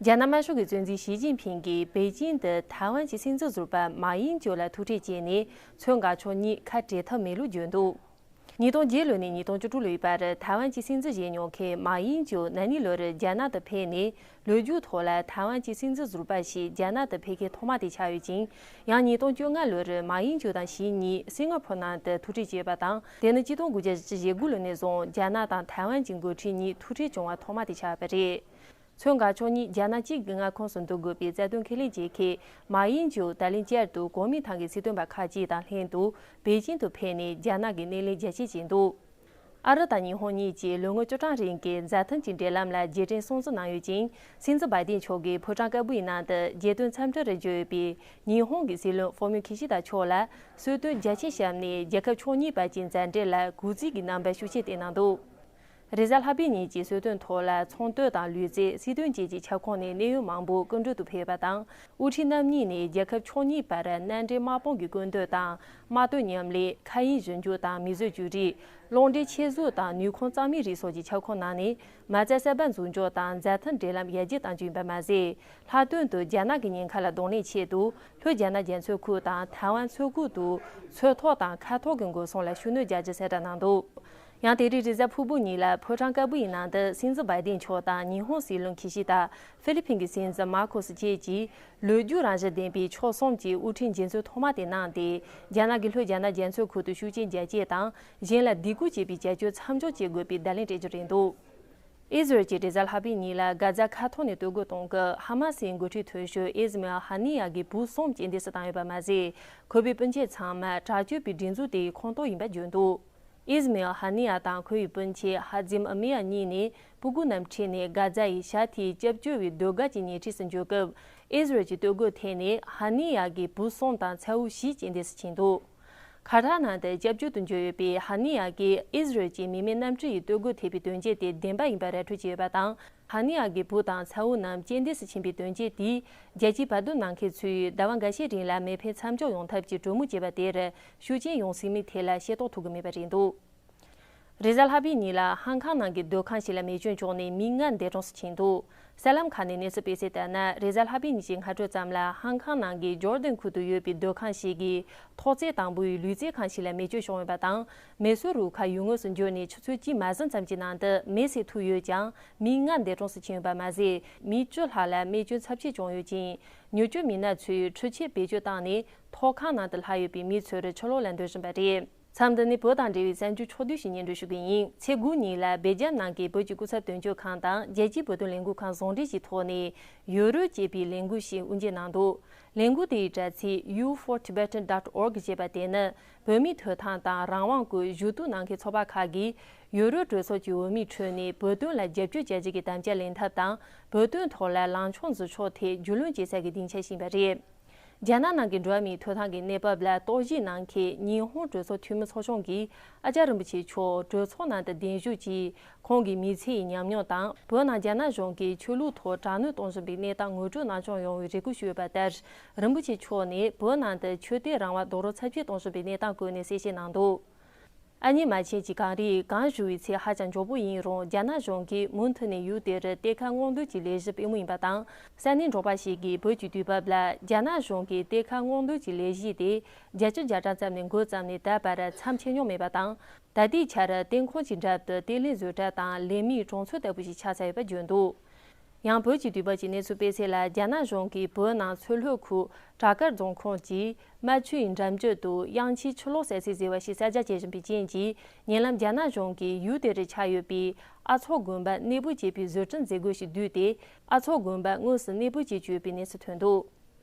རྒྱ་ནག་དམར་ཤོག་གི་གཙོས་འཛིན་ཞི་ཅིན་ཕིང་གིས་པེ་ཅིང་དུ་ཐའེ་ཝན་གྱི་སྲིད་འཛིན་ཟུར་པ་མཱ་དབྱིན་ཅོ་ལ་ཐུག་འཕྲད་བྱས་ནས་མཚོན་དགའ་ཕྱོགས་གཉིས་ཁ་བྲལ་ཐབས་མེད་ལུགས་བརྗོད་འདུག་ཉིས་སྟོང་བརྒྱད་ལོ་ནས་ཉིས་སྟོང་བཅུ་དྲུག་ལོའི་བར་ཐའེ་ཝན་གྱི་སྲིད་འཛིན་བྱས་མྱོང་མཁན་མཱ་དབྱིན་ཅོ་ན་ནིང་ལོར་རྒྱ་ནག་ཏུ་ཕེབས་ནས་ལོ་རྒྱུས་ཐོག་ལ་ཐའེ་ཝན་གྱི་སྲིད་འཛིན་ཟུར་པ་ཞིག་རྒྱ་ནག་ཏུ་ཕེབས་མཁན་ཐོག་མ་དེ་ཆགས་ཡོད་ཅིང་ཡང་ཉིས་སྟོང་བཅོ་ལྔ་ལོར་མཱ་དབྱིན་ཅོ་དང་ཞི་གཉིས་སིང་ངྷ་ཕོར་ནང་དུ་ཐུག་འཕྲད་བྱས་པ་དང་དེ་ནི་གཅིག་སྟོང་དགུ་བརྒྱ་བཞི་ཞེ་དགུ་ལོ་ནས་བཟུང་རྒྱ་ནག་དང་ཐའེ་ཝན་གྱི་མགོ་འཁྲིད་གཉིས་ཐུག་འཕྲད་བྱུང་བ་ཐོག་མ་དེ་ཆགས་པ་རེད། མཚོན་འགག་ཕྱོགས་གཉིས་རྒྱ་ནག་གཅིག་གི་མངའ་ཁོངས་སུ་འདུ་དགོས་པའི་རྩ་དོན་ཁས་ལེན་བྱས་ཁེ། མ་དབྱིན་ཇུག་ད་ལིན་བཅར་དུ་གོ་མིན་ཐང་གི་སྲིད་དོན་པ་ཁག་ཅིག་དང་ལྷན་དུ་པེ་ཅིན་དུ་ཕེབས་ནས་རྒྱ་ནག་གི་སྣེ་ལེན་རྒྱ་ཆེ་བྱས་འདུག་ཨ་རི་དང་ཉི་ཧོང་གཉིས་ཀྱིས་ལོ་ངོ་བཅུ་གྲངས་རིང་གི་མཛའ་མཐུན་གྱི་འབྲེལ་ལམ་ལ་རྗེས་དྲན་སྲུང་བརྩི་གནང་ཡོད་ཅིང་སིན་ཛོ་སྦ་དེན་ཕྱོགས་ཀྱི་ཕོ་བྲང་དཀར་པོའི་ནང་དུ་རྒྱལ་དོན་འཚམས་འདྲི་རེ་བརྗོད་ཡོད་པའི་ཉི་ཧོང་གི་སྲིད་བློན་ཧྥོ་མིའོ་ཁི་ཤི་ད་མཆོག་ལ་གསོལ་སྟོན་རྒྱ་ཆེ་བྱམས་ནས་རྒྱལ་ཁབ་ཕྱོགས་གཉིས་བར་གྱི་མཛའ་འབྲེལ་ལ་གུས་བརྩི་གྱི་རྣམ་པ་ཤུགས་ཆེ་བསྟན་གནང་འདུག་རེས་གཟའ་ལྷག་པའི་ཉིན་གྱི་གསོལ་སྟོན་ཐོག་ལ་ཚོང་ལྟོས་དང་ལུས་རྩལ་སྲིད་དོན་བཅས་ཀྱི་ཁྱབ་ཁོངས་ནས་གནད་ཡོད་མང་པོ་སྐུ་མགྲོན་དུ་ཕེབས་པ་དང་དབུ་ཁྲིད་རྣམ་གཉིས་ནས་རྒྱལ་ཁབ་ཕྱོགས་གཉིས་བར་མནའ་འབྲེལ་དམག་དཔུང་གི་ཀུན་སྤྱོད་དང་དམག་དོན་མཉམ་ལས། མཁའ་དབྱིངས་གཞི་འཇུག་དང་མིས་བཟོས་བཅོས་སྒྲིག། རླུང་འདྲེན་ཆས་བཟོ་དང་ནུས་ཁུངས་གཙང་མའི་རིགས་སོགས་ཀྱི་ཁྱབ་ཁོངས་ནང་ནས་མ་རྩ་གསར་པ་འཛུགས་འཇོག་དང་འཛད་མཐའ་འབྲེལ་ལམ་རྒྱ་སྐྱེད་བཏང་རྒྱུ་ཡིན་པ་མ་ཟད། ལྷག་དོན་དུ་རྒྱ་ནག་གི་ཉེན་ཁ་ལ་གདོང་ལེན་ཆེད་དུ་ལྷོ་རྒྱ་ནག་རྒྱ་མཚོའི་ཁུག་དང་ཐའེ་ཝན་མཚོའི་ཁུག་ཏུ་མཚོའི་ཐོག་དང་མཁའ་ཐོག་གི་འགོག་སྲུང་ལ་ཤུགས་སྣོན་རྒྱག་རྒྱུ་གསལ་བསྒྲགས་གནང་འདུག། ཡང་དེ་རིང་རི་གཟར་ཕུར་བུ་གཉིས་ལ་ཕོ་བྲང་དཀར་པོ་ཡི་ནང་དུ་སྲིད་འཛིན Biden མཆོག་དང་ཉི་ཧོང་སྲིད་བློན Kishida། ཧྥི་ལི་ཕིན་གྱི་སྲིད་འཛིན Marcos བཅས་ཀྱིས་ལོས་རྒྱུས་རང་བཞིན་ལྡན་པའི་ཕྱོགས་གསུམ་གྱི་དབུ་ཁྲིད་མཇལ་འཛོལ་ཐོག་མ་དེ་གནང་སྟེ་རྒྱ་ནག་གི་ལྷོད་རྒྱ་ནག་རྒྱལ་མཚོའི་ཁུལ་དུ་ཤུགས་རྐྱེན་རྒྱ་བསྐྱེད་དང་གཞན་ལ་སྡིགས་སྐུལ་བྱེད་པའི་བྱ་སྤྱོད་མཚམས་འཇོག་བྱེད་དགོས་པའི་བརྡ་ལན་སྤྲད་རྒྱུ་རེད་འདུག་ཨི་ཟི་རལ་གྱི་རི་གཟར་ལྷག་པའི་གཉིས་ལ་སྒ་རྫ་ཁ་ཐོག་ནས་སྟོད་གོས་གཏོང་སྐབས་ཧ་མ་སིའི་འགོ་ཁྲིད་དོན་ཞུ་ཨིས་མེ་ཨལ་ཧ་ནི་ཡཱ་གི་བུ་གསུམ་སྐྱེལ་འདྲེན་སུ་བཏང་ཡོད་པ་མ་ཟད་ཁོ་པའི་སྤུན་མཆེད་ཚང་མ་དྲག་སྤྱོད་པའི་སྒྲིག་འཛུགས་དེའི་ཁོངས་གཏོགས་ཡིན་པ་བརྗོད་འདུག། ཨིས་མཱེལ་ཧ་ནི་ཡཱ་དང་ཁོའི་སྤུན་མཆེད་ཧ་ཛིམ་ཨ་མི་ཡཱ་གཉིས་ནི་སྤུ་རྒུད་རྣམས་ཁྲིད་ནས་སྒ་ཛ་ཡི་ཤར་མཐའི་སྐྱབས་བཅོལ་བའི་ཟློས་གར་གྱི་ཉེ་འཁྲིས་སུ་འབྱོར་སྐབས་ཨིས་ར་ཨེལ་གྱི་སྟོད་གོས་འཐེན་ནས་ཧ་ནི་ཡཱ་གི་བུ་སོམ་དང་ཚའུ་བཞི་སྐྱེ་འདས་སུ་ཕྱིན་འདུག་ཁ་བྲག་ནང་དུ་སྐྱབས་བཅོལ་དུ་འབྱོར་ཡོད་པའི་ཧ་ནི་ཡཱ་གིས་ཨིས་ར་ཨེལ་གྱི་མི་མེད་གནམ་གྲུ་ཡི་སྟོད་གོས་ཐེབས་པའི་དོན་རྐྱེན་དེ་བདེན་པ་ཡིན་པར་ར་འཕྲོད་བྱས་ཡོད་པ་དང་ཧ་ནི་ཡཱ་གི་བུ་དང་ཚའུ་རྣམས་སྐྱེ་འདས་སུ་ཕྱིན་པའི་དོན་རྐྱེན་དེས་རྒྱལ་སྤྱིའི་བར་དོ་ནང་མཁན་ཚོས་ཟླ་བ་འགའ་ཤས་རིང་ལ་མེ་འཕེན་མཚམས་འཇོག་ཡོང་ཐབས་ཀྱི་གྲོས་མོལ་བྱས་པ་དེར་ཤུགས་ཆེན་ཡོང་སྲིད་མེད་ཐད་ལ་ཤེས་རྟོགས་ཐུབ་ཀྱི་མེད་པ་རེད་འདུག་རེས་གཟའ་ལྷག་པའི་ཉིན་ལ་ཧང་ཀང་ནང་གི་སྡོད་ཁང་ཞིག་ལ་མེ་སྐྱོན་བྱུང་ནས་མི་ལྔ་འདས་གྲོངས་སུ་ཕྱིན་འདུག་གསར་ལམ་ཁག་ནས་གནས་ཚུལ་སྤེལ་གསལ་ལྟར་ན་རེས་གཟའ་ལྷག་པའི་ཉིན་གྱི་སྔ་དྲོ་ཙམ་ལ་ཧང་ཀང་ནང་གི་ཇོར་དན་ཁུལ་དུ་ཡོད་པའི་སྡོད་ཁང་ཞིག་གི་ཐོག་བརྩེགས་དང་པོའི་ལུས་རྩལ་ཁང་ཞིག་ལ་མེ་སྐྱོན་བྱུང་ཡོད་པ་དང་མེ་གསོད་རུ་ཁག་ཡུལ་དངོས་སུ་འབྱོར་ནས་ཆུ་ཚོད་གཅིག་མ་ཟིན་ཙམ་གྱི་ནང་དུ་མེ་བསྲེགས་ཐུབ་ཡོད་ཀྱང་མི་ལྔ་འདས་གྲོངས་སུ་ཕྱིན་ཡོད་པ་མ་ཟད་མི་བཅུ་ལྷག་ལ་རྨས་སྐྱོན་ཚབས་ཆེ་བྱུང་ཡོད་ཅིང་མྱུར་སྐྱོབ་མི་སྣ་ཚོས་འཕྲུལ་ཆས་བེད་སྤྱོད་བཏང་ནས་ཐོག་ཁང་ནང་དུ་ལྷག་ཡོད་པའི་མི་ཚོས་རི་ཆུ་ལོག་ལ་འགྲོ་བཞིན་པ་རེད། མཚམས་འདི་ནི་བོད་དང་འབྲེལ་བའི་གསར་འགྱུར་ཕྱོགས་བསྡུས་ཤིག་ཉན་འགྲོ་ཞུ་གི་ཡིན་ཚེ་དགུང་གཉིས་ལ་སྦེལ་ཇམ་ནང་གི་བོད་ཀྱི་སྐུ་ཚབ་དོན་གཅོད་ཁང་དང་རྒྱལ་སྤྱིའི་བོད་དོན་ལས་འགུལ་ཁང་ཟུང་འབྲེལ་གྱི་ཐོག་ནས་ཡོ་རོལ་ཅེས་པའི་ལས་འགུལ་ཞིག་དབུ་འབྱེད་གནང་འདུག་ལས་འགུལ་དེའི་དྲ་ཚིགས you for Tibetan dot org ཅེས་པ་དེ་ནི་བོད་མིའི་ཐོས་ཐང་དང་རང་དབང་སྐོར་ཞུ་གཏུག་གནང་མཁན་ཚོགས་པ་ཁག་གིས་ཡོ་རོལ་གྲོས་ཚོགས་ཀྱི་འོས་མིའི་ཁྲོད་ནས་བོད་དོན་ལ་རྒྱབ་སྐྱོར་བྱ་རྒྱུ་གྱི་དམ་བཅའ་ལེན་ཐབས་དང་བོད་དོན་ཐོག་ལ་ལངས་ཕྱོགས་འཛུགས་ཕྱོགས་ཐད་རྒྱུས་ལོན་བྱེད་ས་ཀྱི་སྡིངས་ཆ་བྱིན་པ་རེད། རྒྱ་ནག་ནང་གི་འགྲོ་བ་མིའི་ཐོད་ཐང་གི་གནས་བབ་ལ་རྟོག་ཞིབ་གནང་མཁན་ཉི་ཧོང་གྲོས་ཚོགས་འཐུས་མི་ཚོགས་ཆུང་གི་ཨ་ཅར་རིན་པོ་ཆེ་མཆོག་གྲོས་ཚོགས་ནང་དུ་གདན་ཞུ་གྱིས་ཁོང་གི་མི་ཚེ་ཡི་ཉམས་མྱོང་དང་བོད་ནང་རྒྱ་ནག་གཞུང་གིས་ཆོས་ལུགས་ཐོག་དྲག་གནོན་གཏོང་བཞིན་པའི་གནས་སྟངས་ངོ་སྤྲོད་གནང་སྐྱོང་ཡོང་བའི་རེ་སྐུལ་ཞུས་ཡོད་པ་ལྟར་རིན་པོ་ཆེ་མཆོག་ནས་བོད་ནང་དུ་ཆོས་དད་རང་དབང་རྡོག་རོལ་ཚབས་ཆེན་གཏོང་བཞིན་པའི་གནས་སྟངས་བཀོད་ནས་གསལ་བཤད་གནང་འདུག། ཨ་མྱེས་མ་བྱས་ཀྱི་གངས་རིའི་སྒང་བཞུར་བའི་ཚད་ཧ་ཅང་མགྱོགས་པོ་ཡིན་རུང་རྒྱ་ནག་གཞུང་གིས་མུ་མཐུད་ནས་ཡུལ་དེར་གཏེར་ཁ་སྔོག་འདོན་གྱི་ལས་གཞི་སྤེལ་མུས་ཡིན་པ་དང་ས་གནས་འབྲོག་པ་ཞིག་གིས་བོད་ཀྱི་དུས་བབ་ལ་རྒྱ་ནག་གཞུང་གིས་གཏེར་ཁ་སྔོག་འདོན་གྱི་ལས་གཞི་དེ་བརྒྱད་བཅུ་བརྒྱ་གྲངས་ཙམ་ནས་འགོས་ཙམ་ནས་ད་བར་མཚམས་ཆད་མྱོང་མེད་པ་དང་ད་ལྟའི་ཆར་གཏེར་ཁང་གི་འགྲམ་དུ་གཏེར་ལེན་བཟོས་གྲྭ་དང་ལས་མིའི་གྲོང་ཚོ་ལྟ་བུ་ཞིག་ཆགས་ཚར་ཡོད་པ་བརྗོད་འདུག་ཡང་བོད་ཀྱི་དུས་བབ་ཀྱི་གནས་ཚུལ་སྤེལ་ཚད་ལ་རྒྱ་ནག་གཞུང་གིས་བོད་ནང་མཚོ་ལྷོ་ཁུལ་བྲག་དཀར་རྫོང་ཁོངས་ཀྱི་རྨ་ཆུ་ཡི་འགྲམ་རྒྱུད་དུ་གཡང་ཁྱིའི་ཆུ་ལོག་ཟད་ཚད་ཟེར་བ་ཞིག་གསར་རྒྱག་བྱེད་བཞིན་པའི་རྐྱེན་གྱིས་ཉེ་ལམ་རྒྱ་ནག་གཞུང་གིས་ཡུལ་དེ་རུ་ཆགས་ཡོད་པའི་ཨ་ཚོགས་དགོན་པ་གནས་སྤོས་བྱས་པའི་བཟོ་སྐྲུན་མཛད་སྒོ་ཞིག་བསྡུས་ཏེ་ཨ་ཚོགས་དགོན་པ་དངོས་སུ་གནས་སྤོས་བྱེད་ཀྱི་ཡོད་པའི་གནས་ཚུལ་ཐོན་འདུག།